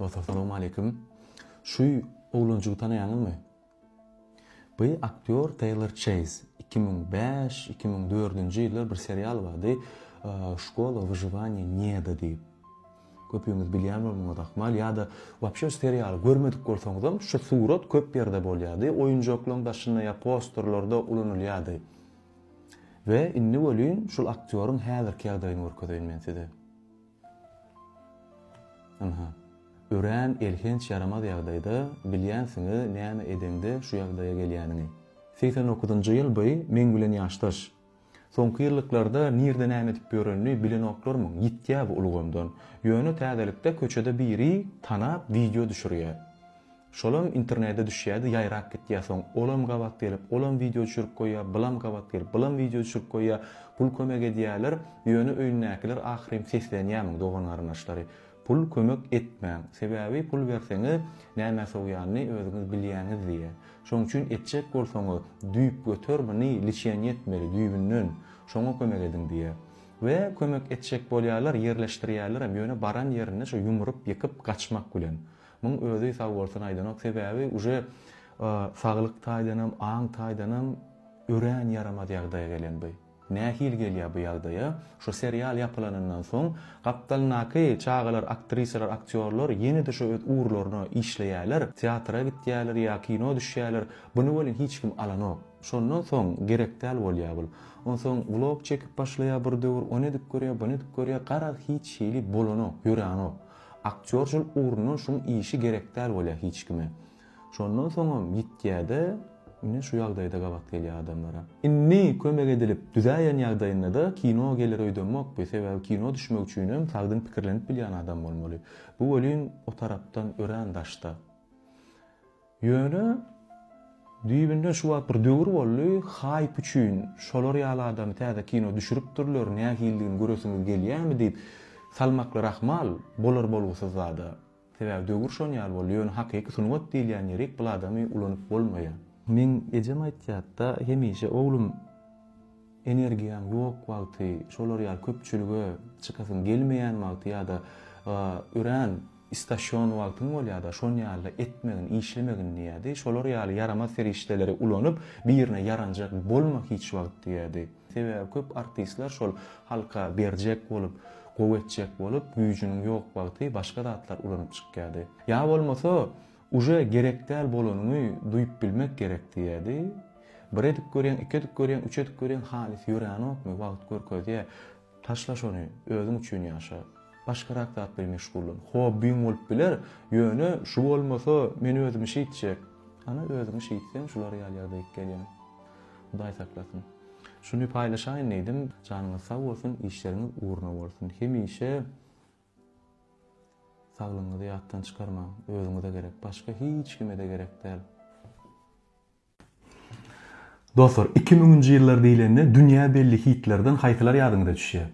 Dostlar, salam aleýkum. Şu oglanjygy tanaýaňyzmy? Bu aktýor Taylor Chase. 2005-2004-nji ýyllar bir serial bardy. Şkola wyžywaniýa neda diýip. Köpüňiz bilýän bolmagyňyz ahmal ýa-da wapşe şu serialy görmedik bolsaňyzam, şu surat köp ýerde bolýardy. Oýunjaklaryň daşynda ýa posterlerde ulanylýardy. We indi welin şul aktýoryň häzirki ýagdaýyny görkezeýin men size. Ynha, örän elhenç ýaramaz ýagdaýda, bilýänsiňiz näme edeňde şu ýagdaýa gelýäniňi. Segsen dokuzynjy ýyl by meň bilen ýaşdaş. Soňky ýyllyklarda nirde näme edip ýörenini bilenoklarmyň, ýitýä bu ulgamdan. Ýöne täzelikde köçede biri tanap wideo düşürýä. Şolam internede düşýädi ýaýrap gitýä soň olam gabat gelip olam wideo düşürip goýýa bylam gabat gelip bylam wideo düşürip goýýa pul kömek edýäler ýöne öýündäkiler ahyrym seslenýämiň dogan garyndaşlary pul kömek etmäň sebäbi pul berseňiz nämä sowýanyny özüňiz bilýäňiz diýä şoň üçin etjek bolsaňyz düýp göter muny liçeniýe etmeli düýbünden şoňa kömek ediň diýä we kömek etjek bolýalar ýerleşdirýälerem ýöne baran ýerinde şo ýumrup ýykyp gaçmak bilen. Muň özi sag bolsun aýdanok sebäbi uje saglyk taýdanam aň taýdanam örän ýaramaz ýagdaýa gelen bu. Nähili gelýär bu ýagdaýa şu serial ýapylanyndan soň gapdalyndaky çagalar aktrisalar aktýorlar ýene-de şu öz ugurlaryna işleýäler teatra gitýäler ýa kino düşýäler buny welin hiç kim alanok şondan soň gerekdäl bolýar bul onsoň vlog çekip başlaýar bir döwür ony edip görýär buny edip görýär garaz hiç hili bolanok ýöranok Aktýor şol ugrundan şuň işi gerekdäl bolýa hiç kime. Şondan soňam ýitýäde ine şu ýagdaýda gabat gelýä adamlara. Indi kömek edilip düzäýen ýagdaýyndada kino geler öýdemok bi sebäbi kino düşmek üçinem sagdyn pikirlenip bilýän adam bolmaly. Bu welin o tarapdan örän daşda. Ýöne, düýbünden şu wagt bir döwür boldy, haýp üçin şolar ýaly adamy täze kino düşüripdirler, nähilidigini göresiňiz gelýärmi diýip, salmaklary ahmal, bolar-bolgusyz zad-a. Sebäbi döwür şon ýaly boldy, ýöne hakyky sungat diýilýän ýerik bul adamy ulanyp bolmaýar. Meň ejem aýtýardy-da, hemişe, Oglum! Energiýaň ýok wagty, şolar ýaly köpçülige çykasyň gelmeýän wagty ýa-da örän istaşýon wagtyň bolýar-da, şon ýalyda etmegin, işlemegin diýýärdi. Şolar ýaly ýaramaz serişdeleri ulanyp, birine ýaranjak bolma hiç wagt diýýärdi. Sebäbi köp artistler şol halka berjek bolup, gowy etjek bolup, güýjüniň ýok wagty başga zatlar ulanyp çykýardy. Ýa bolmasa, Uje gerek däl bolanyňy duýup bilmek gerek diýýädi. Bir edip görýäň, iki edip görýäň, üç edip görýäň halys ýöränokmy, wagt görkezýä. Taşla şony, özüň üçin ýaşa. Başgarak zat bilen meşgullan. Hobbiň bolup biler, ýöne şu bolmasa men özümi şeýtjek. Ana özüňi şeýtseň şular ýaly ýagdaýk gelýäň. Hudaý saklasyn. Şuny paýlaşaýyn diýdim. Janyňyz sag bolsun, işleriňiz ugruna bolsun. Hemişe Saglygyňyzy ýatdan çykarmaň, özüňize gerek, başga hiç kime-de gerek däl. Dostlar, iki müňünji ýyllar diýlende dünýä belli hitlerden haýsylar ýadyňyza düşýär?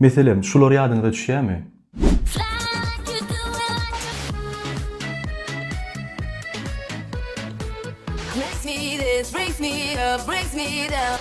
Meselem, şular ýadyňyza düşýärmi? Bless me this, raise me up, raise me down.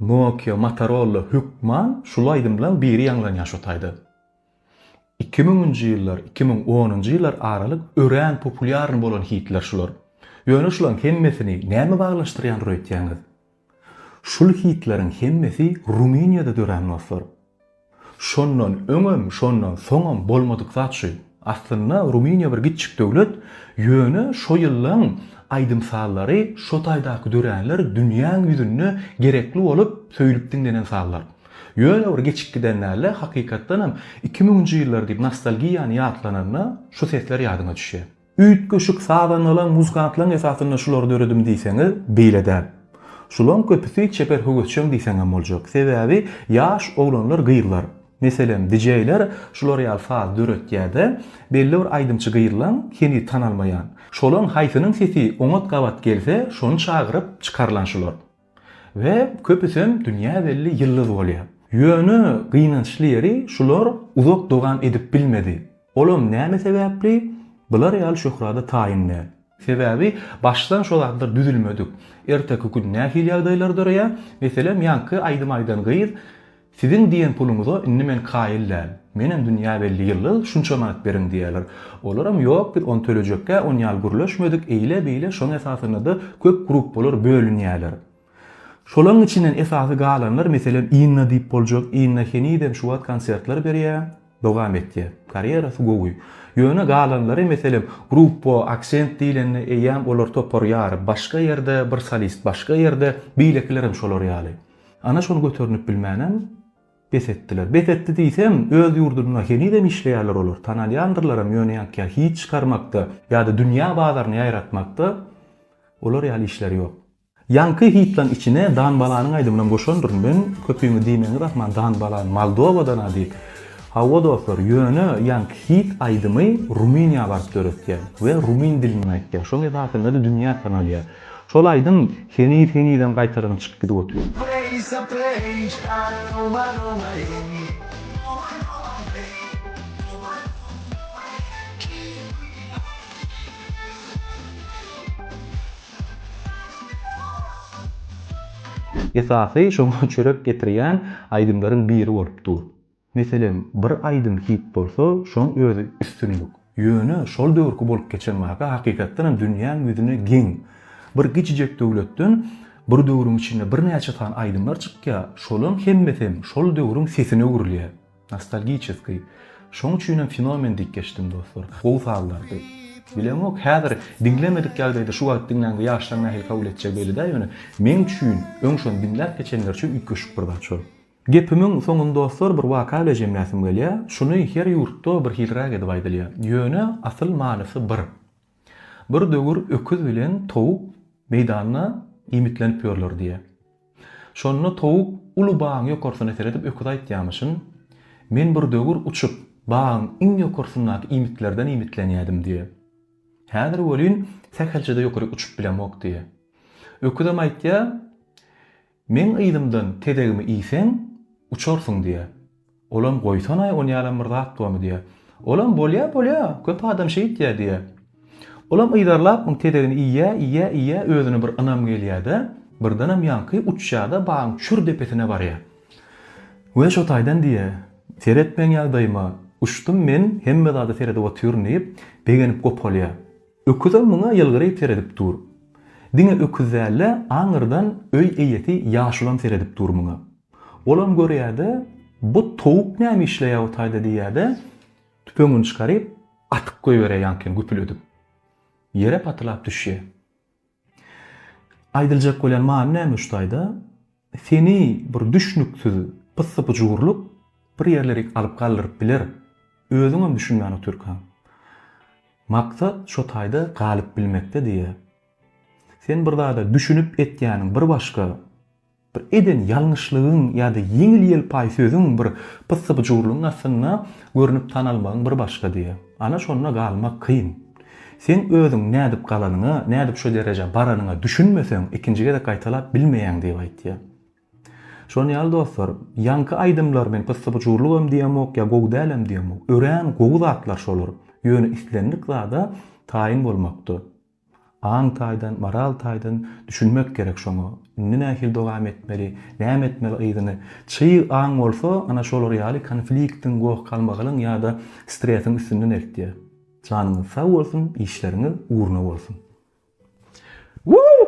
Nokia Motorolla hökman şul aýdymlaň biri ýaňlanýa şu taýda. Iki müňünji ýyllar iki müň onunjy ýyllar aralyk örän populýarny bolan hitler şular. Ýöne şulaň hemmesini näme baglanyşdyrýandyr öýtýäňiz? Şul hitleriň hemmesi Rumyniýada dörän dostlar. Şondan öňem, şondan soňam bolmadyk zat şu. Aslynda Rumyniýa bir gitjik döwlet, ýöne şo ýyllaň aýdym-sazlary, şo taýdaky döränler dünýäň ýüzünde gerekli bolup, söýlüp diňlenen sazlar. Ýöne bir geçip giden dälde, hakykatdanam iki müňünji ýyllar diýip nostalgiýany ýatlananda şu sesler ýadyňa düşýär. Üýtgeşik sazandalan muzykantlaň esasynda şulary döredim diýseňiz, beýle däl. Şulaň köpüsi çeper höwesjeň diýseňem boljak. Sebäbi ýaş oglanlar gyzlar, meselem dijeýler şular ýaly saz döretýäde, belli bir aýdymçy gyzlaň heniz tanalmaýan. Şolaň haýsynyň sesi oňat gabat gelse şony çagyryp çykarylan şular. We köpüsem dünýä belli ýyldyz bolýar. Ýöne gynançly ýeri şular uzak dowam edip bilmedi. Olam näme sebäpli bular ýaly şöhrada taýyn däl. Sebäbi başdan şo zatlar düzülmedik. Erteki gün nähili ýagdaýlar döreýär? Meselem ýaňky aýdym aýdan gyz Siziň diýen puluňyza indi men kaýyl däl. Menem dünýä belli ýyllyk şunça manat beriň diýerler. Olaram ýok biz ony tölejekkä on ýal gürleşmedik, eýle-beýle şoň esasynada köp gruppalar bölünýäler. Şolaň içinden esasy galanlar meselem Inna diýip boljak, Inna henizem şu wagt konsertler berýä, dowam etýä. Karýerasy gowy. Ýöne galanlary meselem gruppa Aksent diýlende eýýäm olar topar ýaryp başga ýerde, bir solist başga ýerde, beýlekilerem şolar ýaly. Ana şony göternip bilmänem bes etdiler. Bes etdi diýsem, öz ýurdunda henizem işleýärler olar. Tanalýandyrlaram, ýöne ýaňky hit çykarmakda ýa-da dünýä bazaryna ýaýratmakda olar ýaly işleri ýok. Ýaňky hitlaň içine Danbalanyň aýdymynam goşandyryn men. Köpüňiz diýmäňiz ahman Danbalan Moldowadan-a diýip. Hawa dostlar, ýöne ýaňky hit aýdymy Rumyniýa baryp döretýär we rumyn dilinde aýtýar. Şoň esasynda-da dünýä tanalýar. Şol aýdym heniz henizem gaýtadan çykyp gidip otyr. Esasy şoňa çörek getirýän aýdymlaryň biri bolup dur. Meselem, bir aýdym hit bolsa, şoň özi üstünlik. Ýöne şol döwürki bolup geçen waka hakykatdanam dünýäň ýüzüne geň. Bir kiçijek döwletden bir döwrüň içinde birnäçe sany aýdymlar çykýar, şolaň hemmesem şol döwrüň sesine öwrülýär. Nostalgiçeskiý. Şoň üçinem fenomen diýip geçdim, dostlar. Gowy sazlardy. Bilemok, häzir diňlemedik ýagdaýda şu wagt diňläňde ýaşlaň nähili kabul etjegi belli däl, ýöne meň üçin, öň şony diňläp geçenler üçin üýtgeşik bir zat şol. Gepimiň soňuny dostlar bir waka bile jemläsim gelýä. Şuny her ýurtda bir hiliräk edip aýdylýa. Ýöne asyl manysy bir. Bir döwür öküz bilen towuk meýdanda iýmitlenip ýörler diýä. Şonda towuk uly bagyň ýokarsyna seredip öküze aýtýamyşyn, Men bir döwür uçup, bagyň iň ýokarsyndaky iýmitlerden iýmitlenýädim diýä. Häzir welin sähelçede ýokaryk uçup bilemok diýä. Öküzem aýtýa, Meň yzymdan tezegimi iýseň, uçarsyň, diýýär. Olam, Goýsanaý, onýalam bir zat bormy? diýýär. Olam, Bolýar, bolýar, köp adam şeýt diýýär, diýýär. Olam yzarlap muň tezegini iýýär, iýýär, iýýär, özüne bir ynam gelýär-de, birdenem ýaňky uçýar-da, bagyň çür depesine barýar. We şo taýdan, diýýär, Seret meň ýagdaýyma, uçdum men, hemme zada seredip otyryn, diýip, begenip gopalýar. Öküzem muňa ýylgyryp seredip dur. Diňe öküz däl-de, aňyrdan öý eýesi ýaşulam seredip dur muňa. Olam görýär-de, Bu towuk näme işleýär-u taýda diýýär-de, tüpeňini çykaryp, atyp goýberýär ýaňky ýene güpül edip. Ýere patylap düşýär. Aýdyljak bolýan many näme şu taýda? Seni bir düşnüksiz pyssy-pyjurlyk bir ýerlerik alyp galdyryp biler. Özüňem düşünmän otyrkaň. Maksat şo taýda galyp bilmekde diýýär. Sen bir zada düşünip etýäniň bir başga. Bir eden ýalňyşlygyň ýa-da ýeňil-ýelpaý sözüň, bir pyssy-pyjurlygyň astynda görnüp tanalmagyň bir başgady. Ana şonda galmak kyn. Sen özüň nädip galanyňa, nädip şu derejä baranyňa düşünmeseň, ikinji gezek gaýtalap bilmeýäň diýip aýtýar. Şon ýaly dostlar, ýaňky aýdymlar men pyssy-pyjurlygam diýemok, ýa gowy dälem diýemok. Örän gowy zatlar şolar. Ýöne islendik zada taýyn bolmakda. Aň taýdan, moral taýdan düşünmek gerek şoňa. Indi nähili dowam etmeli, näme etmeli yzyny. Çyg aň bolsa, ana şolar ýaly konfliktiň, goh-galmagalyň ýa-da stresiň üstünden eltýär. Janyňyz sag bolsun, işleriňiz ugruna bolsun! Woo!